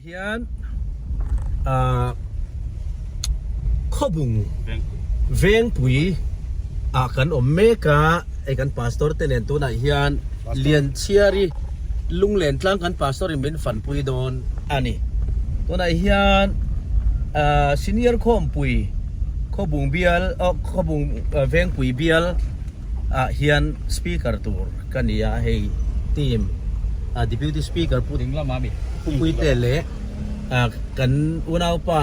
hian ah khawbung vengpui ah kan awm mek a hei kan pastor te nen tunah hian lianchhiari lunglen tlang kan pastor in min fanpui dawn a ni tunah hian ah senior khawmpui khawbung bial ah khawbung vengpui bial. ah hian speaker tur ka ni a hei team a deputy speaker pu ding lama mi pu pui te le a kan unau pa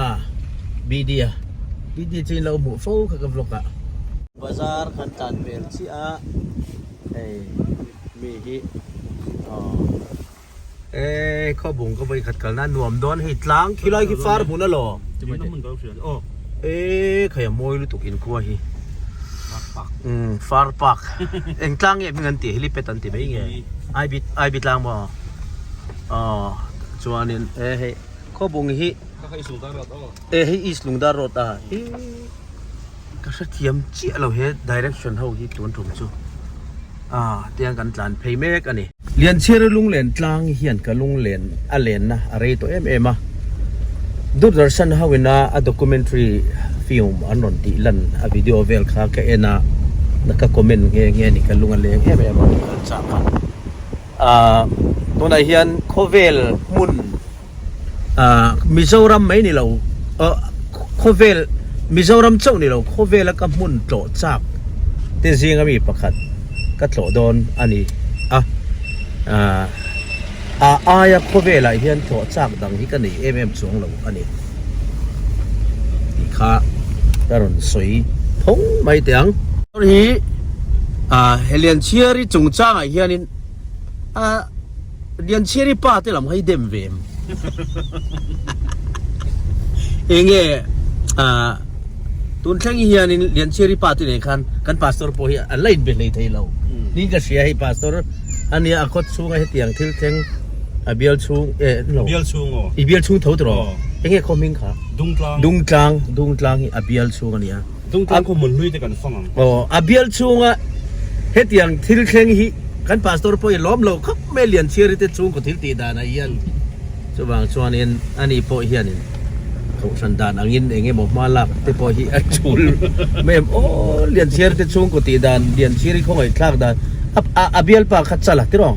bidia bidia chin lo mu fo kha ka vlog a bazar kan tan vel chiah a hei mi hi a. Eee khaw bung ka vawi khat kal nan nuam dawn hei tlang khi lai khi far hmun alaw eee khaia mawi lutuk in khua hi far park eng tlang nge hming an tih helipad an ti mai nge ai bi ai bi tlang maw aw chuanin e hei khaw bung hi e hei east lungdar road a hi Ka hrethiam chiah lo he direction ho hi tun tum chu a tiang kan tlan phei mek a ni. Lianchhira lunglen tlang hian ka lunglen a lenna a rei tawh em em a. Durdarshan ho ina a documentary film an rawn tih lan a video vel kha ka en a ka comment nghe nghe a ni ka lung a leng em em a kal chak a. Ahh tunah hian khawvel hmun. ah Mizoram mai ni lo ah khawvel Mizoram chauh ni lo khawvela ka hmun tlawh chak te zinga mi pakhat ka tlawh dawn a ni a ah a aia khawvelah hian tlawh chak dang hi ka nei em em chuang lo a ni tih kha ka rawn sawi thawng mai teh ang hi ah he lian chhiari chungchangah hianin a Lianchhiari pa te lam hi dem ve em enge a tun thleng hi hian in Lianchhiari pa te nen khan kan pastor po hi an la in be hlei thei lo ni ka hria hei pastor ania a kawt chunga hetiang thil thleng a bial chung e lo bial chung o i bial chung tho tawh enge khaw hming kha Dungtlang Dungtlang Dungtlang hi a bial chhung ania Chungte khaw hmun hlui te kan fang ang. Aw, a bial chunga hetiang thil thleng hi kan Pastor pawh i lawm lo khawp mai Lianchhiari te chhungkaw thil tih danah hian. Chuvang chuanin ani pawh hianin Kohhran dan angin eng emaw hma lak te pawh hi a tul mai em aw, Lianchhiari te chhungkaw tih dan, Lianchhiari khawngaihthlak dan a a bialpa kha chal a tirh aw.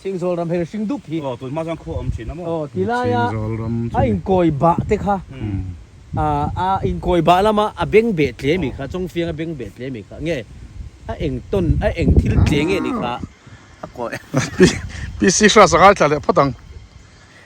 Chhing zawl ram her hring dup hi. Aw, tunhma chuan khaw awm thin a maw? Aw, ti laia Chhing zawl ram chu a inkawi bah te kha, ah, a inkawi bah lama a beng beh tle mi kha, chawngfiang a beng beh tle mi kha, nge a eng tawn, a eng thil tle nge ni kha a kawih. Pi, PC hra sangha i thlah leh phawt ang.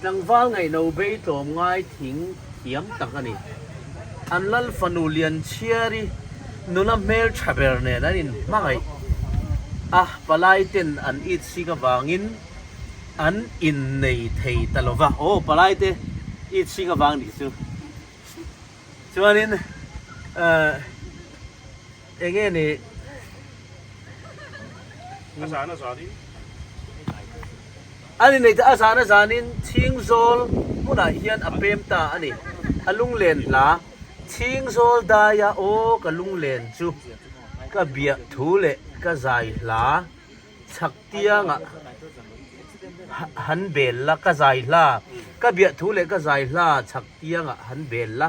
Tlangval ngaihlo bei tlawm ngai thing thiam tak a ni. An lal fanu Lianchhiari nula hmeltha ber nen an in hmangaih a, palaiten an itsik avangin an innei thei ta lo va. Aw palaite itsik avang nih chu. Chuanin. Enge ni? A zana zanin. A ni neite a zana zanin chhingzawl hmunah hian a pem ta a ni. A lunglen hla. Chhingzawl daia aw ka lunglen chu ka biah thu leh ka zai hla chhak tiangah han bel la, ka zai hla, ka biah thu leh ka zai hla chhak tiangah han bel la.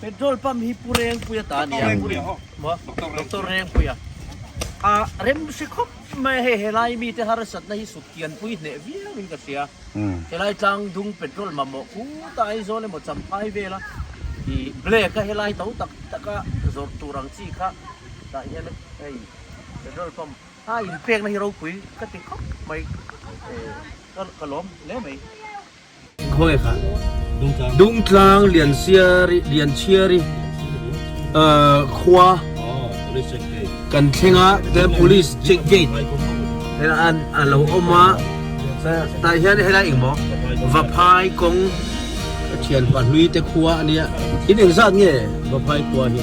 Petrol pump hi Pu Rengpuia ta nia. Pu Rengpuia. Doctor Rengpuia. A rem si khawp mai hei helai mi te harsatna hi suk kian pui hneh viau in ka hria. Helai tlang dung petrol mamawh pu ta Aizawl emaw Champhai vela i black a helai to tak tak a zawrh tur ang chi kha tah hian hei petrol pump a inpekna hi ropui ka ti khawp mai. Ka lawm hle mai. Khawi kha Dungtlang Liansiari Lianchiari khua kan thleng a tlai police check gate an a lo awm a tah hian helai engmaw Vaphai kawng thianpa hlui te khua a nia in engzat nge Vaphai khua hi?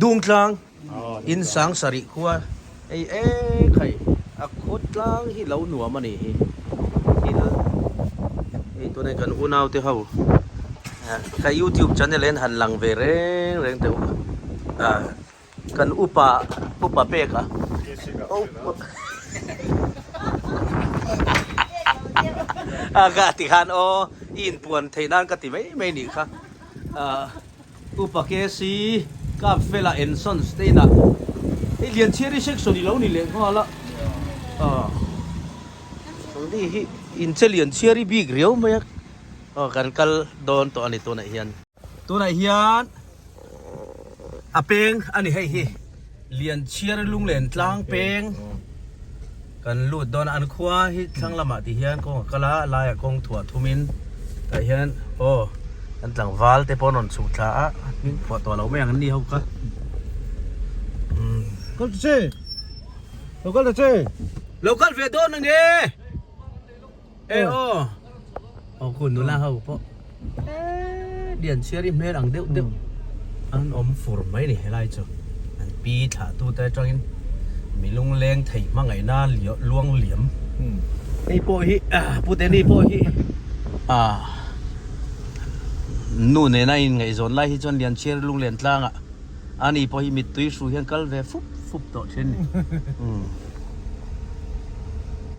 Dungtlang in sang sarih khua ei ei khai a kut tlang hi lo nuam a nih hi thil eitur e kan unaute ho ka youtube channel en han lang ve reng reng teh u a kan upa upa pek a ka ti khan aw i inpuan theih nan ka ti mai mai nih kha a. Upa KC, Kap Fela and Sons te inah hei Lianchhiari section i lo ni leh nghal a, aw ni hi in che Lianchhiari bik riau mai a, aw kan kal dawn tawh a ni tunah hian. Tunah hian a peng a ni hei hi. Lianchhiar lunglen tlang peng kan lut dawn a, an khua hi thlang lamah tih hian kawng a kal a, a laiah kawng thuah thum in tah hian aw an tlangval te pawh an rawn chhuk thla a, hming phuah tawh loh mai ang an ni ho kha. Kal ta che, lo kal ta che. Lo kal ve dawn ang e. E aw aw ku nula ho pawh lian chhiar i hmel ang deuh deuh an awm fur mai a ni helai chu an pi thlah tu te atangin mi lungleng thei hmangaihna luang liam ni pawh hi pu te ni pawh hi a nu nena in ngaihzawn lai hi chuan lian chhiar lunglen tlangah a ni pawh hi mittui hru hian kal ve fup fup tawh thin ni.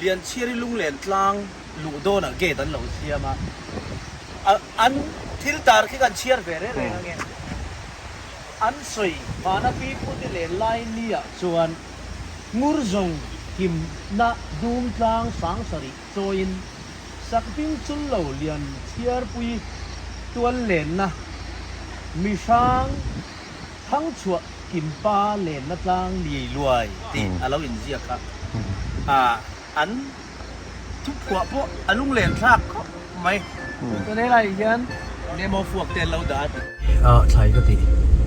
Lianchhiari lunglen tlang luh dawnah gate an lo siam a, an thil tar khi kan chhiar ve reng reng ange. An sawi vana pi pute leh Lainnia chuan ngur zawng himna dum tlang sang sarih chawiin Sakping chul lo Lianchhiarpui tuallenna mihrang Thangchhuah kimpa lenna tlang liai luai tih a lo inziak a. An thuphuah pawh a lunglen thlak khawp mai. Chuan he lai hian demo fuak te an lo dah a ti. A thlai ka tih.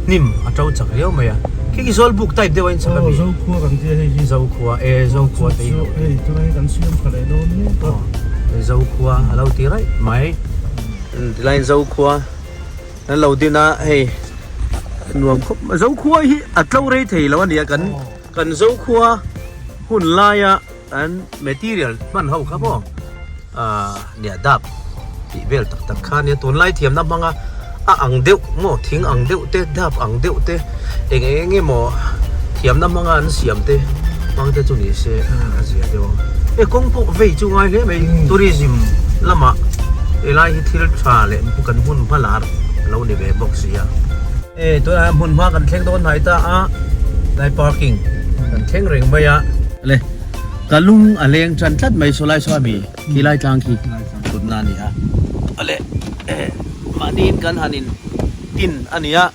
Hnim a to chak riau mai a. Khi khi zawl buk type deuh a inchhak a ni. Zokhua kan tia hei hi. Zokhua e, Zokhua te i hauh teh. Chulai hi kan siam kha leh dawn mek a. Zokhua a lo ti raih mai. Tilaiin Zokhua. Kan lo din a hei nuam khawp mai. Zokhua hi a tlo rei thei lo a ni a, kan kan Zokhua hun laia an material hman ho kha maw ah nia dap tih vel tak tak kha a nia. Tunlai thiamna hmanga a ang deuh maw, thing ang deuh te, dap ang deuh te. Eng eng nge maw thiamna hmanga an siam te hmang te chu ni se a zia deuh ang. E kawng pawh vei chu ngai hle mai tourism lama helai hi thil tha leh kan hmun hma lar a lo ni ve bawk si a. E tunah hmun hma kan thleng dawn hnai ta a lai parking kan thleng reng mai a. Le ka lung a leng tan tlat mai saw lai saw ami khi lai tlang khi thutna a ni a. Le mahniin kan han in tin a ni a.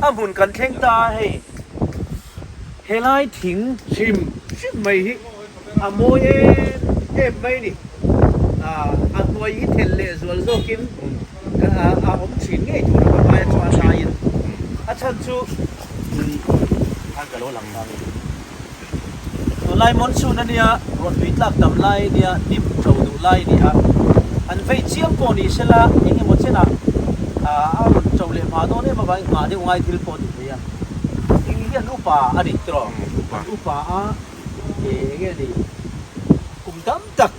A hmun kan thleng ta a hei. Helai thing hrim hrim mai hi a mawi em em mai ni. A hnuai hi thel leh zual zawkin a awm thin ngei tura ka hmai a chuan laiin a chhan chu tun a ka lo lang vang a ni. Tunlai monsoon a nia, ruah tui tlak tam lai a nia, dim tho duh lai a nia. An vei chiang pawh ni se la, eng emaw chenah a rawn to leh mah dawn em avangin nghah deuh ngai thil pawh a ni theia. Eng hian upa a ni tiraw? Upa. Upa a, e eng nge a ni, kum tam tak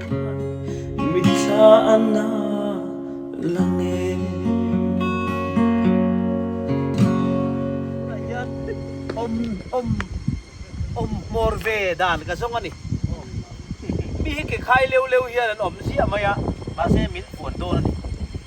Mi thla a na lang e. Tunah hian awm awm awm hmawr ve dan ka zawng a ni. Mi hi ke khai leu leu hian an awm ziah mai a, mahse min puan dawn a ni.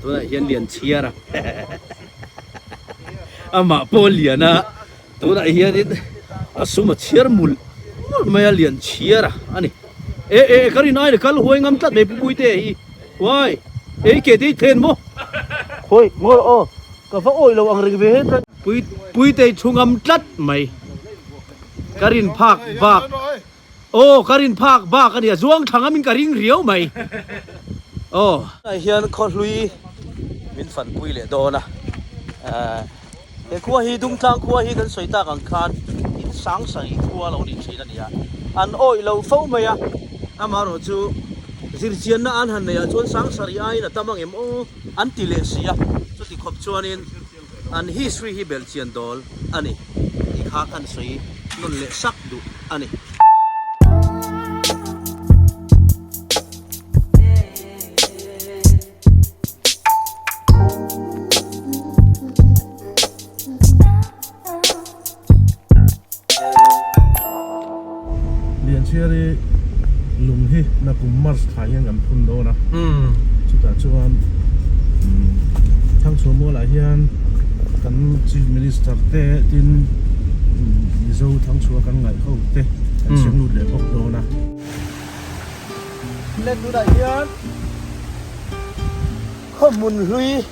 tunah hian lian chhiar a amah pawh lian a tunah hianin a sum a chhiar mul mul mai a lian chhiar a ani e e ka rin ai le kal huai ngam tlat mai pupui te hi huai ei ke te thlen mo hoi ngor o ka va oi lo ang reng ve he pui pui te thu ngam tlat mai ka rin phak bak aw ka rin phak bak ania zuang thang amin ka ring riau mai aw ai hian khaw hlui min fan pui leh dawn a he khuwa hi dumtlang khuwa hi kan sawi tak ang khan in sang sangih khuwa lo ni thin ania an awih lo fo mai a amarawh chu zir chianna an han nei ah chuan sang sarih aiin a tam angem aw an ti leh si a chuti khawp chuan in An history hi bel chian dawl a ni tih kha kan sawi nawn leh sak duh a ni. Lianchhiar i lung hi na kum March tha hian kan phun dawn a, chutah chuan Thangchhuahmual ah hian kan Chief Minister te tin Mizo Thangchhua kan ngaihho te kan siam lut leh bawk dawn a. Flat tunah hian khaw hmun hlui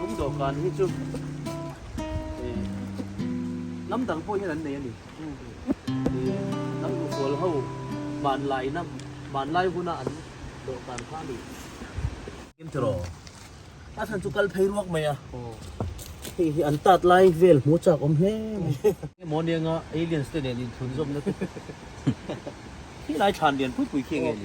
Lung dawhkan hi chu eh lam dang pawh hian an nei a ni. Lam ruhtual ho hmanlaina, hmanlai huna an dawhkan kha a ni. Em tiraw? A then chu kal phei ruak mai a. Hei hi an tat lai vel hmu chak awm hle mai. Heng morning a aliens te nen inthlun zawmna te. Khilai than lian pui pui khi nge ni.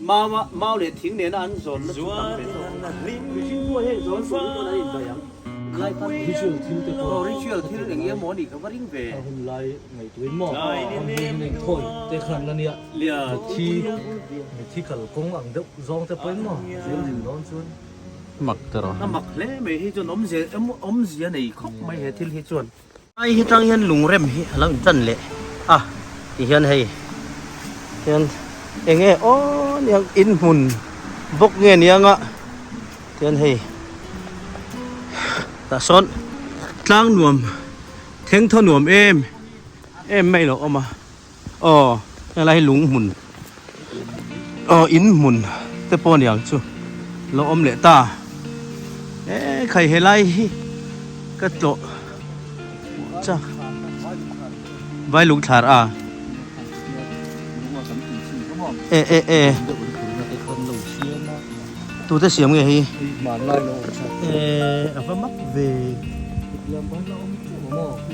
Mama, mau leh thing nena an zawn na chu tam ve tawh a. Mihring thu aheng zawn tur hi chuan an invaih ang. Ritual thil te pawh. Aw, ritual thil eng emaw ni ka va ring ve. A hun lai ngaih turin maw? Hmun hi min eng thawi te khan la nia. Mithi, mithi kal kawng ang deuh zawng te pawhin maw? Zir thin dawn chuan mak te rawh. A mak hle mai hi chuan awmzia awmzia nei khawp mai he thil hi chuan. Ai hi tang hian lungrem hi a lo in chan leh a ti hian hei hian eng nge aw niang in hmun bawk nge niang a ti hian hei tah sawn tlang nuam thengthaw nuam em em mai loh awm a. Aw helai hi lung hmun aw in hmun te pawh niang chu lo awm leh ta e khai helai hi ka tlawh chang vai lung thlar a e e e tute siam nge hi e a va mak ve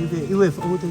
i ve i wef o te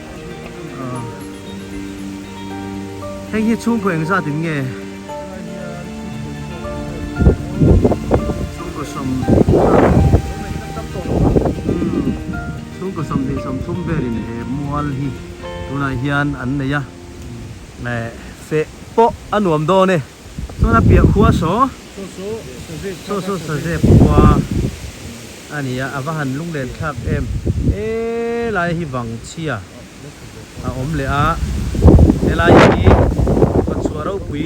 Hei hi chhungkaw eng zat in nge? Chhungkaw sawm chhungkaw sawm tih sawm chhum vel in he mual hi tunah hian an nei a, feh pawh a nuam dawn e. Tuna piah khua saw saw saw sazep khua a ni a a va han lunglen thlak em e lai hi vang chhia a awm leh a helai hi hmachhuah ropui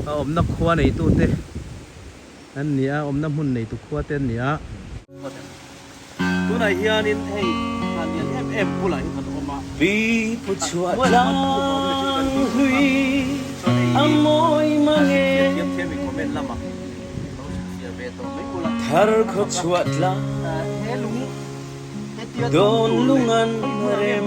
a awmna khua neitute. an ni a, awmna hmun nei tuk khua te an ni a. Tunah hianin hei thla lian em em bulah hi kan awm a. Pi pu chhuah tlang hlui a mawi mange. Thar khaw chhuah tlang dawn lungan rem.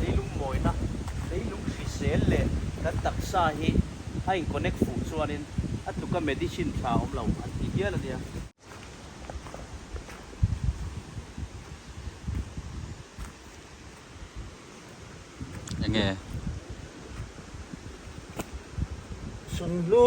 Leilung mawina, leilung hrisel leh kan taksa hi a inkonek fuh chuanin a tuka medicine tha awm lo an ti dial a nia. Enge? Sunhlu.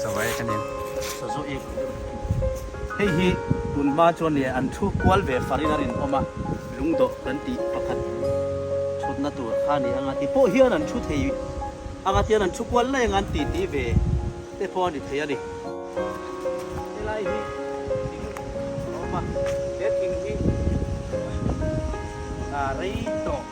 Sawai ka nen. Saw zawh i vun deuh hnu. Hei hi tun hma chuan nia an thu kual ve farin a rinawm a, lungdawh kan tih pakhat thutna tur kha ni anga ti pawh hian an thu thei anga tian an thu kual laih anga an ti ti ve te pawh a ni thei a ni. Helai hi thing a awm a, he thing hi rei tawh.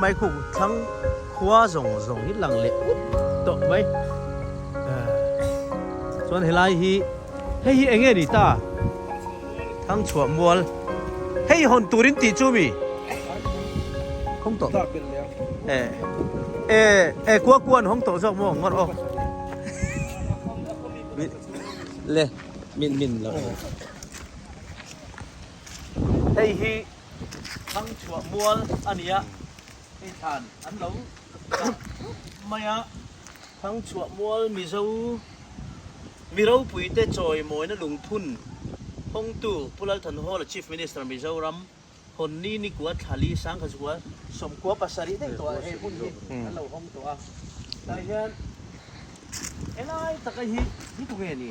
Maikung thlang khua zawng zawng hi lang leh up tawh mai. Chuan helai hi hei hi enge ni ta? Thlang chhuah mual hei hawn turin tih chu mi? Hawng tawh eh eh kua kuan hawng tawh zawk maw ngawr aw. Le min min lo. Hei hi. thlang chhuah mual a ni a, hei thlan an lo chah thup mai a, thlang chhuah mual Mizo mi ropuite chawi mawina lungphun hawngtu Pu Lalthanhawla Chief Minister Mizoram Honni Nikua Thlali Sangkhazua Sawmkua pasarih daih tawha he hmun hi an lo hawng tawh a, tah hian helai taka hi hi tu nge ni?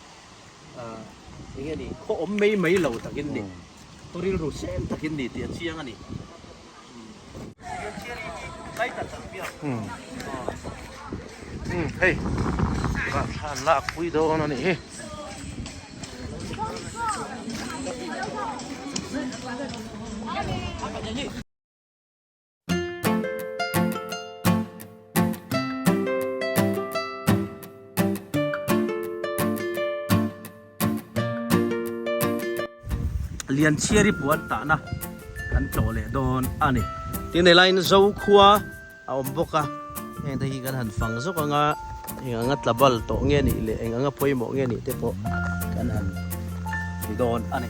eng nge ni khaw awm mai mai lo takin ni khaw ril ru sem takin ni tih a chiang a ni hei ka than lak pui dawn a ni hi Thank you. lian chiari puan tahna kan tlawh leh dawn a ni tin he lain zo khua a awm bawk a heng te hi kan han fang zawk anga eng anga tla bal tawh nge nih leh eng anga pawimawh nge nih te pawh kan han ti dawn a ni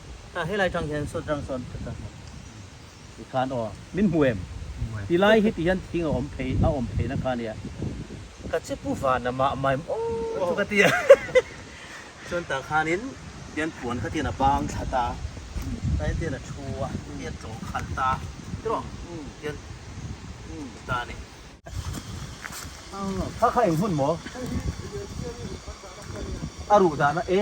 Tah helai thang hian saw tang sawn ka chang ti khan aw min hmu em tilai hi ti hian thing a awm phei a awm phei na kha nia ka che pu van a mah mai maw chu ka ti a chuan tah khan in tian puan kha tian a bang thla ta tlai tian a thu a tian tlawh khal ta tiraw tian ta ni kha kha eng hun maw a ruh dan a e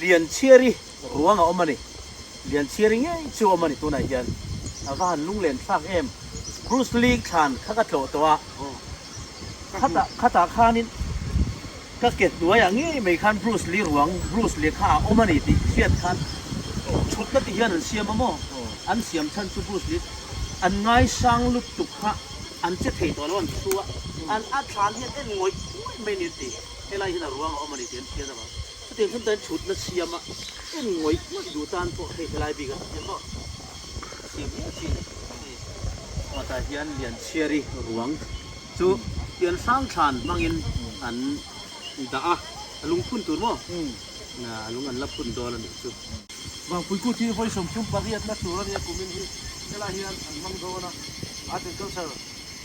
Lianchhiari ruang a awm a ni. Lianchhiari ngei chu a awm a ni tunah hian a va han lunglen thlak em. Cruise League thlan kha ka tlawh tawh a, khatah khatah khanin ka ke hnuaiah ngei mai khan Bruce Lee ruang, Bruce Lee kha a awm a ni tih hriat khan thutna ti hian an siam a maw? An siam chhan chu Bruce Lee an ngaisang lutuk kha an che thei tawh lo a ni thu a, a thlan hian en ngawih ngawih mai a ni a ti. Helai huna ruang a awm a ni tih an fian avang. Chutiang hlim tan chhutna siam a en ngawih ngawih duh tan pawh hei helai bik a ti emaw? A siam miah a chin a ni. Chhuatah hian Lianchhiari ruang chu Pian Hrangthlan hmangin an dah a, a lung phun tur maw? A lung an la phun dawn a nih chu. Vangpui Kut hi vawi sawmthum pariatna tur a nia kumin hi. Helai hian an hmang dawn a, Art and Culture.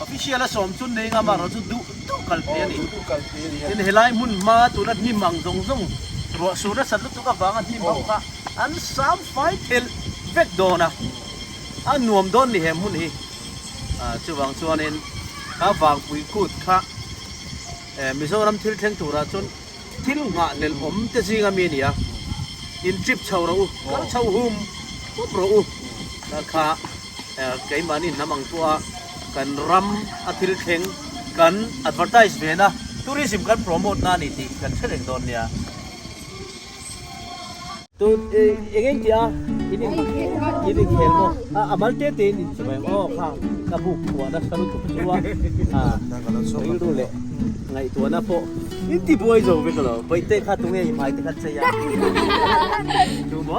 Official a sawm chu Ney Ngam erawh chu duh duh kal hle a ni. Tin helai hmun hma tuna hnim ang zawng zawng ruah sur nasat lutuk avanga hnim ho kha an sam fai thelh vek dawn a. A nuam dawn ni he hmun hi. Chuvang chuanin a vangpui kut kha Mizoram thil thleng turah chuan thil nghah lel awm te zinga mi a ni a. In chip chho rawh u, kal chho hum khawp rawh u kha. keimahni hnam ang pawha kan ram a thil thleng kan advertise ve na tourism kan promote na ni tih kan hre reng dawn nia tu enge ti a ini ini khel mo a amal te te ni chi mai o kha ka bu khuwa na saru tu chu a a ngai ru le ngai tu na po in ti buai zo ve ka lo bai te kha tunge i mai te kha che ya tu bo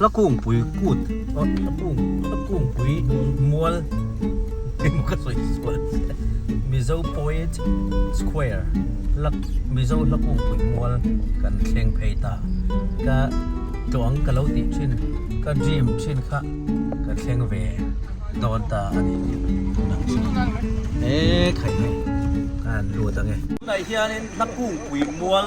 Lakungpui kut Lakungpui mual emaw ka sawi sual Mizo poet square Mizo lakungpui mual kan thleng phei ta ka tlawh ang ka lo tih thin ka dream thin kha ka thleng ve dawn ta a ni tunah chuan e khai mai ka han lut ang e tunah hian in Lakungpui mual.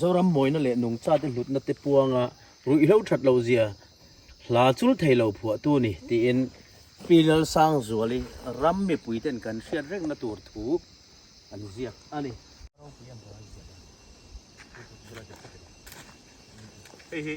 Zoram mawina leh nungchate hlutna te puanga ruihhlo that lo zia hla chul thei lo phuah tu ni, tiin Pi Lal Sangzuali ram mipui ten kan hriat rekna tur thu an ziak a ni. Ropui a hnuai ziah lo. Hei hi.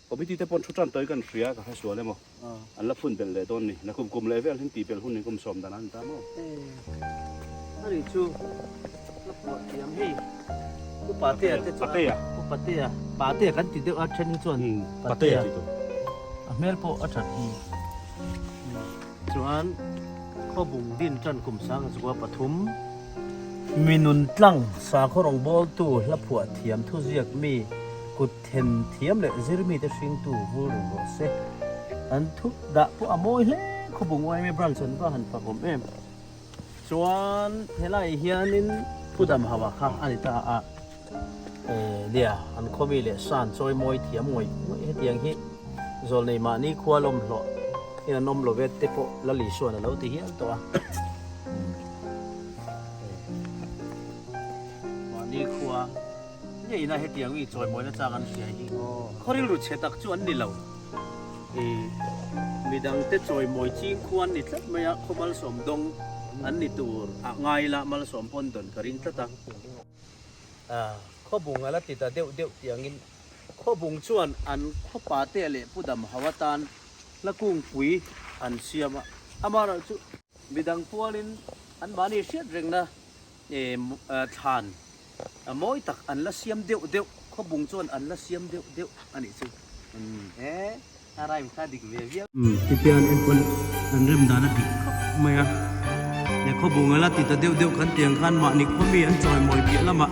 Committee te pawh thu tan tawi kan hria ka hresual em aw an la phun belh leh dawn ni na kum kum leh vel hin tihbelh hun in kum sawm dan a ni ta maw a nih chu la puah thiam hei u patea te chu a u patea patea kan ti deuh a then hi chuan patea ti tur a hmel pawh a that hi chuan khawbung din tan kum sang a chukua pathum minun tlang sakhaw rawngbawltu la phuah thiam thuziak mi kut Then thiam leh zir mite hringtu vul reng rawh se. An thup dah pawh a mawi hle khawbung YMA branch an va han phak awm em. Chuan helai hianin Pu Damhava kha a ni ta a. Eh nia, an khawmi leh san chawi mawi thiam ngawih ngawih hetiang hi Zawlnei mahni khua lawm hlawh in an awm love te pawh Lali Suana lo ti hial tawh a. Mahni khua. Ngeihna hetiang mi chawimawina chang an siai hi khawrilru chhe tak chu an ni lo. I midang te chawimawi chingkhua an ni tlat mai a, khaw malsawm dawng an ni tur ah ngai la malsawm pawn dawn ka ring tlat a. Ah, khawbung ala ti ta deuh deuh tiang in khawbung chuan an khawpa te leh pu dam ho atan hla kungpui an siam a, amarawh chu midang pualin an mahni hriat rengna thlan mawi tak an la siam deuh deuh, khawbung chuan an la siam deuh deuh a nih chu. He a rhyme kha dik ve viau. Tipian Apple an rem dan a dik khawp mai a, he khawbung a la ti ta deuh deuh kan ti ang khan mahni khawmi an chawi mawi piah lamah.